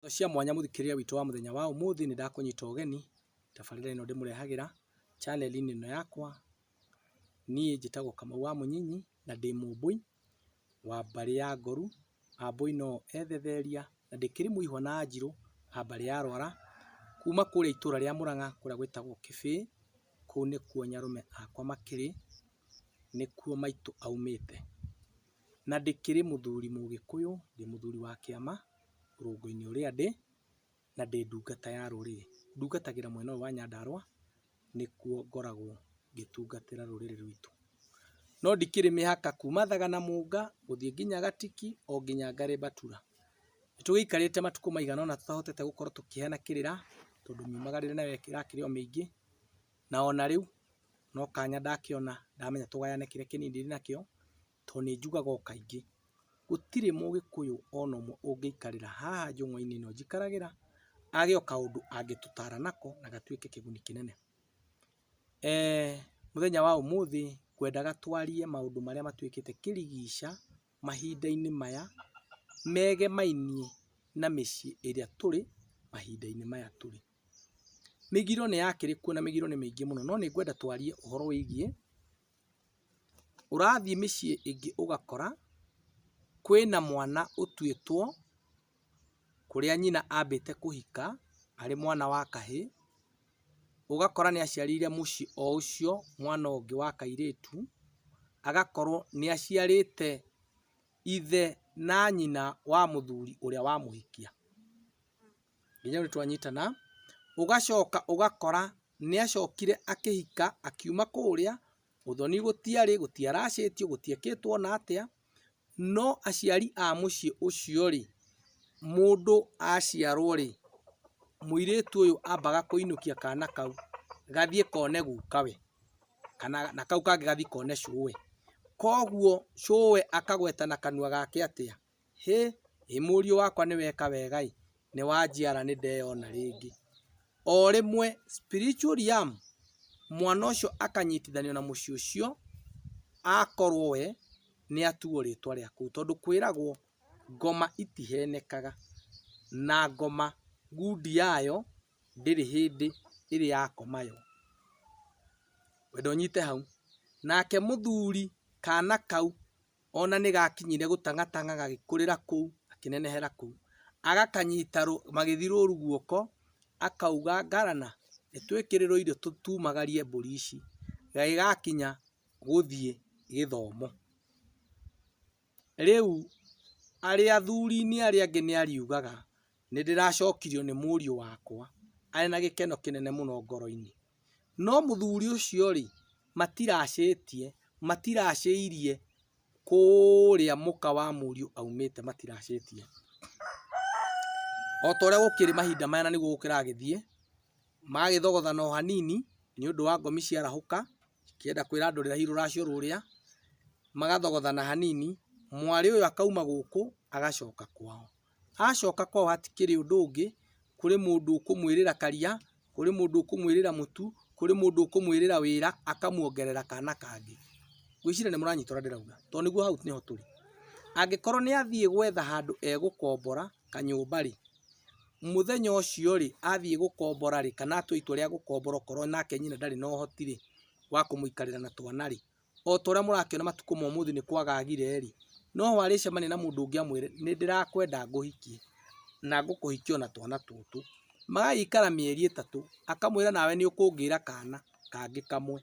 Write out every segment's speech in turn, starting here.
Indo cia mwanya mũthikĩrĩria witũ wa mũthenya wa ũmũthĩ nĩ ndakũnyita ũgeni tabarĩra ĩno ndĩmũrehagĩra channel-inĩ ĩno yakwa. Niĩ njĩtagwo Kamau wa Mũnyinyi na ndĩ Mũmbũi wa mbarĩ ya Ngoru, Ambũi no o ethetheria na ndĩkĩrĩ mũihwa na Anjirũ a mbarĩ ya Rwara. Kuma kũrĩa itũra rĩa Mũrang'a kũrĩa gwĩtagwo Kĩbĩĩ, kũu nĩkuo nyarũme akwa makĩrĩ, nĩkuo maitũ aumĩte. Na ndĩkĩrĩ mũthuri Mũgĩkũyũ, ndĩ mũthuri wa kĩama. rũngũ-inĩ ũrĩa ndĩ, na ndĩ ndungata ya rũrĩrĩ. Ndungatagĩra mwena ũyũ wa Nyandarũa, nĩkuo ngoragwo ngĩtungatĩra rũrĩrĩ rwitũ. No ndikĩrĩ mĩhaka kuma Thagana Mũnga, gũthiĩ nginya Gatiki, o nginya Ngarĩ Mbatura. Nĩ tũgĩikarĩte matukũ maigana ũna tũtahotete gũkorwo tũkĩheana kĩrĩra, tondũ miumagĩrĩre nayo ĩrakĩrĩ o mĩingĩ, na ona rĩu, no kanya ndakĩona ndamenya tũgayane kĩrĩa kĩnini ndĩnakĩo, tondũ nĩ njugaga o kaingĩ, gũtirĩ mũgĩkũyũ ona ũmwe ũngĩikarĩra haha njũng'wa-inĩ ĩno njikaragĩra, age o kaũndũ angĩtũtara nako na gatuĩke kĩguni kĩnene. Mũthenya wa ũmũthĩ ngwendaga twarie maũndũ marĩa matuĩkĩte kĩrigica mahinda-inĩ maya, megemainie na mĩciĩ ĩrĩa tũrĩ mahinda-inĩ maya tũrĩ. Mĩgiro nĩ yakĩrĩ kuo na mĩgiro nĩ mĩingĩ mũno, no nĩ ngwenda twarie ũhoro wĩgiĩ Ũrathiĩ mĩciĩ ĩngĩ ũgakora kwĩna mwana ũtuĩtwo kũrĩa nyina ambĩte kũhika arĩ mwana wa kahĩĩ, ũgakora nĩaciarĩire mũciĩ o ũcio mwana ũngĩ wa kairĩtu, agakorwo nĩaciarĩte ithe na nyina wa mũthuri ũrĩa wamũhikia. nginya rĩu twanyitana, ũgacoka ũgakora nĩacokire akĩhika akiuma kũrĩa, ũthoni gũtiarĩ, gũtiaracĩtio, gũtiekĩtwo ona atĩa, no aciari a mũciĩ ũcio rĩ, mũndũ aciarwo rĩ, mũirĩtu ũyũ ambaga kũinũkia kana kau gathiĩ kone gukawe, kana na kau kangĩ gathiĩ kone cũe, koguo cũe akagweta na kanua gake atĩa? Hĩ! Ĩ mũriũ wakwa nĩ weka wega ĩ! Nĩ wanjiara nĩ ndeyona rĩngĩ. O rĩmwe spiritual Liam mwana ũcio akanyitithanio na mũciĩ ũcio akorwo we nĩ atuwo rĩtwa rĩa kũu tondũ kwĩragwo ngoma itihenekaga na ngoma ngundi yayo ndĩrĩ hĩndĩ ĩrĩ ya koma yo. Ngwenda ũnyite hau. Nake mũthuri kana kau Ona nĩgakinyire gũtang'atang'a gagĩkũrĩra kũu gakĩnenehera kũu. Agakanyita magĩthi rũru guoko akauga Ngarana nĩtwĩkĩrĩrwo irio tumagarie mbũri ici. Gagĩgakinya gũthiĩ gĩthomo. Rĩu arĩ athurinĩ arĩa angĩ nĩariugaga nĩndĩracokirio nĩ mũriũ wakwa arĩ na gĩkeno kĩnene mũno ngoroinĩ. No mũthuri ũcio rĩ, matiracĩtie, matiracĩirie kũrĩa mũka wa mũriũ aumĩte, matiracĩtie. O ta ũrĩa gũkĩrĩ mahinda maya na nĩguo gũkĩragĩthiĩ, magagĩthogothana o hanini nĩ ũndũ wa ngomi ciarahũka, ikĩenda kwĩra andũ rĩrahi rũracio rũrĩa, magathogothana hanini, mwarĩ ũyũ akauma gũkũ agacoka kwao. Acoka kwao hatikĩrĩ ũndũ ũngĩ, kũrĩ mũndũ ũkũmwĩrĩra karia, kũrĩ mũndũ ũkũmwĩrĩra mũtu, kũrĩ mũndũ ũkũmwĩrĩra wĩra akamwongerera kana kangĩ. Ngwĩciria nĩmũranyita ũrĩa ndĩrauga tondũ nĩguo hau nĩho tũrĩ. Angĩkorwo nĩathiĩ gwetha handũ egũkombora kanyũmba-rĩ, mũthenya ũcio-rĩ, athiĩ gũkombora-rĩ, kana atua itua rĩa gũkombora okorwo nake nyina ndarĩ na ũhoti-rĩ, wa kũmũikarĩra na twana-rĩ, o ta ũrĩa mũrakĩona matukũ ma ũmũthĩ nĩ kwagagire rĩ, no arĩcemania na mũndũ ũngĩ amwĩre nĩ ndĩrakwenda ngũhikie na ngũkũhikia o na twana tũtũ. Magagĩikara mĩeri ĩtatũ, akamwĩra nawe nĩ ũkũngĩra kana kangĩ kamwe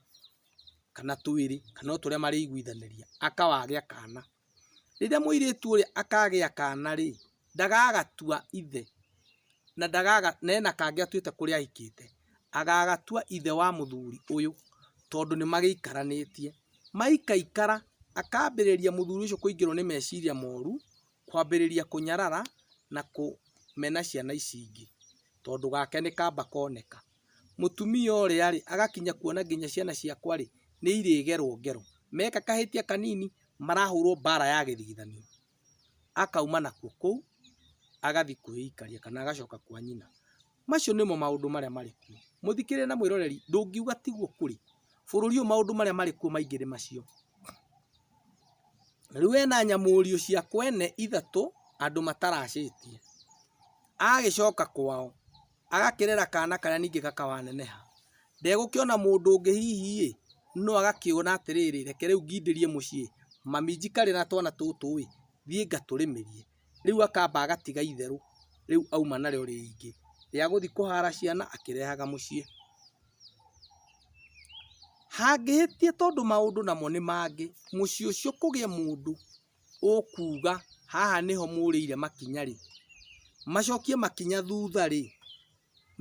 kana twĩrĩ kana o ta ũrĩa marĩiguithanĩria, akawagĩa kana. Rĩrĩa mũirĩtu ũrĩa akagĩa kana-rĩ, ndagagatua ithe, na ena kangĩ atuĩte kũrĩa ahikĩte, agagatua ithe wa mũthuri ũyũ, tondũ nĩmagĩikaranĩtie. Maikaikara, akambĩrĩria mũthuri ũcio kũingĩrwo nĩ meciria moru, kwambĩrĩria kũnyarara na kũmena ciana ici ingĩ, tondũ gake nĩkamba koneka. mũtumia ũrĩa rĩ, agakinya kuona nginya ciana ciakwa rĩ, nĩ irĩgerwo ngero. Meka kahĩtia kanini, marahũrwo mbara ya gĩthigithanio. Akauma nakuo kũu, agathiĩ kwĩikaria kana agacoka kwa nyina. Macio nĩmo maũndũ marĩa marĩ kuo. Mũthikĩrĩria na mwĩroreri, ndũngiuga tiguo kũrĩ. Bũrũri ũyũ maũndũ marĩa marĩ kuo maingĩ nĩ macio. Rĩu ena nyamũriũ cia kwene ithatũ, andũ mataracĩtie. Agĩcoka kwao, agakĩrera kana karĩa ningĩ gakawaneneha, ndegũkĩona mũndũ ũngĩ hihi ĩ, no agakĩona atĩrĩrĩ, reke rĩu ngindĩrie mũciĩ, mami njikarĩre na twana tũtũ ĩ, thiĩ ngatũrĩmithie, rĩu akamba agatiga itherũ, rĩu auma narĩo rĩngĩ, rĩa gũthiĩ kũhara ciana akĩrehaga mũciĩ. Hangĩhĩtia tondũ maũndũ namo nĩ mangĩ, mũciĩ ũcio kũgĩe mũndũ. ũkuga haha nĩho mũrĩire makinya rĩ, macokie makinya thutha rĩ,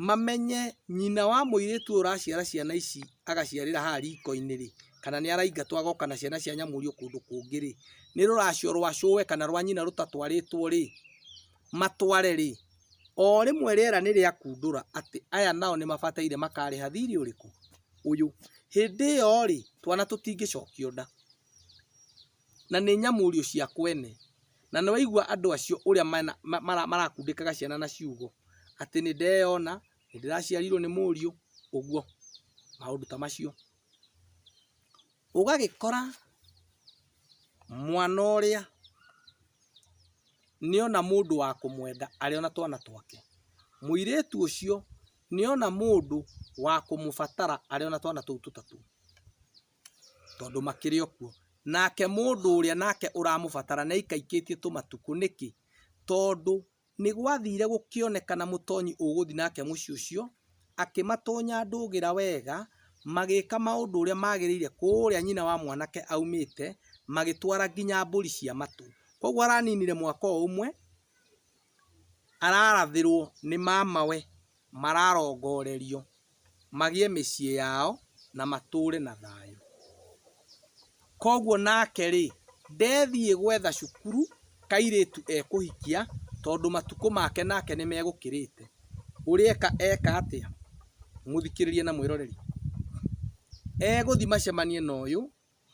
mamenye nyina wa mũirĩtu ũyũ ũraciara ciana ici agaciarĩra haha riko-inĩ rĩ, kana nĩ araingatwo agoka na ciana cia nyamũrio kũndũ kũngĩ rĩ, nĩ rũracio rwa cũwe kana rwa nyina rũtatwarĩtwo rĩ, matware rĩ, o rĩmwe rĩera nĩ rĩakundũra atĩ aya nao nĩ mabataire makarĩha thirĩ ũrĩkũ? ũyũ. Hĩndĩ ĩyo rĩ, twana tũtingĩcokio nda. na nĩ nyamũũrio cia kwene, na nĩwaigua andũ acio ũrĩa marakundĩkaga ciana na ciugo, atĩ nĩndeyona, nĩndĩraciarirwo nĩ mũũriũ, ũguo, maũndũ ta macio. Ũgagĩkora mwana ũrĩa nĩona mũndũ wa kũmwenda arĩ o na twana twake, mũirĩtu ũcio nĩona mũndũ wa kũmũbatara arĩ o na twana tũu tũtatũ. Tondũ makĩrĩ o kuo. Nake mũndũ ũrĩa nake ũramũbatara nĩaikaikĩtie tũmatukũ. Nĩkĩ? Tondũ nĩgwathiire gũkĩonekana mũtonyi ũgũthiĩ nake mũciĩ ũcio, akĩmatonya ndũgĩra wega, magĩka maũndũ ũrĩa magĩrĩire kũrĩa nyina wa mwanake aumĩte, magĩtwara nginya mbũri cia matũ. Koguo araninire mwaka o ũmwe. ararathĩrwo nĩ mamawe mararongorerio magĩe mĩciĩ yao na matũre na thayũ. Koguo nake rĩ, ndethiĩ gwetha cukuru kairĩtu ekũhikia tondũ matukũ make nake nĩ megũkĩrĩte. Ũrĩeka eka atĩa? Mũthikĩrĩria na mwĩroreri, egũthiĩ macemanie na ũyũ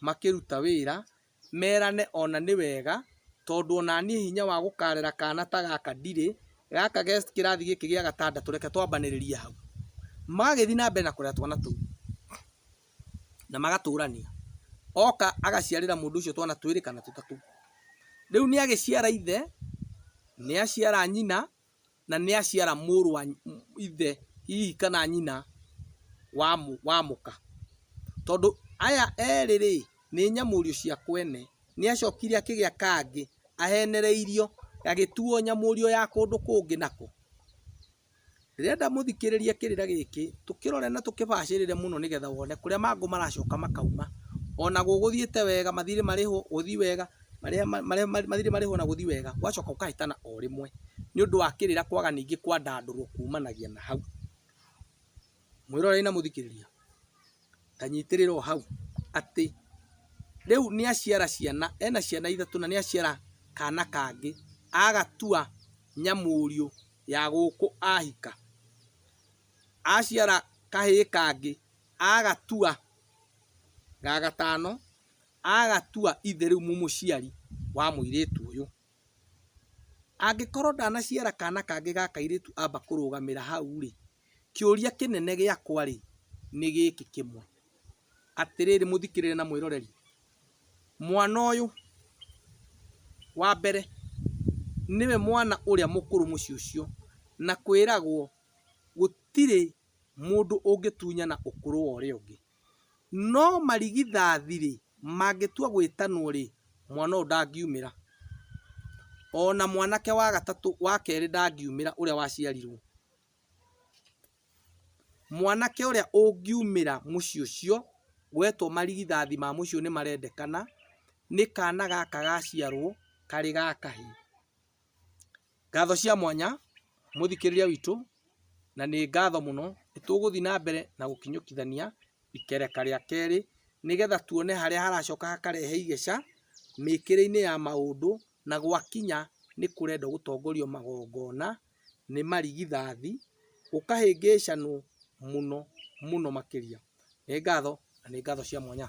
makĩruta wĩra merane ona nĩ wega tondũ onaniĩ hinya wa gũkarera kana ta gaka ndirĩ, gaka ge kĩrathi gĩkĩ gĩa gatandatũ reke twambanĩrĩrie hau. Magagĩthiĩ na mbere na kũrera twana tũu na magatũrania, oka agaciarĩra mũndũ ũcio twana twĩrĩ kana tũtatũ. Rĩu nĩ agĩciara ithe, nĩ aciara nyina na nĩaciara mũrũ wa ithe hihi kana nyina wa wa mũka. Tondũ aya erĩ-rĩ, nĩ nyamũrio cia kwene. Nĩacokire akĩgĩa kangĩ ahenereirio, gagĩtuo nyamũrio ya kũndũ kũngĩ nako. Ndĩrenda mũthikĩrĩrie kĩrĩra gĩkĩ, tũkĩrore na tũkĩbacĩrĩre mũno nĩgetha wone kũrĩa mangũ maracoka makauma. Ona gũgũthiĩte wega, mathirĩ marĩhwo, gũthiĩ wega. marĩa mathiirĩ marĩhwo na gũthiĩ wega, ũgacoka ũkahĩtana o rĩmwe, nĩ ũndũ wa kĩrĩra kwaga ningĩ kwandandũrwo kuumanagia na hau. Mwĩroreri na mũthikĩrĩria, ta nyitĩrĩra o hau, atĩ rĩu nĩ aciara ciana, ena ciana ithatũ na nĩ aciara kaana kangĩ, agatua nyamũriũ ya gũkũ ahika. Aciara kahĩĩ kangĩ, agatua ga gatano, agatua ithe rĩu mũmũciari wa mũirĩtu ũyũ, angĩkorwo ndanaciara kana kangĩ ga kairĩtu amba kũrũgamĩra hau rĩ, kĩũria kĩnene gĩakwa rĩ, nĩ gĩkĩ kĩmwe, atĩrĩrĩ mũthikĩrĩria na mwĩroreri, mwana ũyũ wa mbere nĩwe mwana ũrĩa mũkũrũ mũciĩ ũcio, na kwĩragwo gũtirĩ mũndũ ũngĩtunyana ũkũrũ wa ũrĩa ũngĩ, No marigithathi-rĩ, mangĩtua gwĩtanwo-rĩ, mwana ũyũ ndangiumĩra. O na mwanake wa gatatũ, wa kerĩ ndangiumĩra ũrĩa waciarirwo. Mwanake ũrĩa ũngiumĩra mũciĩ ũcio, wetwo marigithathi ma mũciĩ ũyũ nĩ marendekana, nĩ kana gaka gaciarwo karĩ ga kahĩĩ. Ngatho cia mwanya mũthikĩrĩria witũ, na nĩ ngatho mũno, nĩ tũgũthiĩ na mbere na gũkinyũkithania ikereka rĩa kerĩ, nĩgetha tuone harĩa haracoka hakarehe igĩca mĩkĩre-inĩ ya maũndũ, na gwakinya nĩ kũrenda gũtongorio magongona nĩ marigithathi, gũkahĩngĩcanwo mũno mũno makĩria. Nĩ ngatho na nĩ ngatho cia mwanya.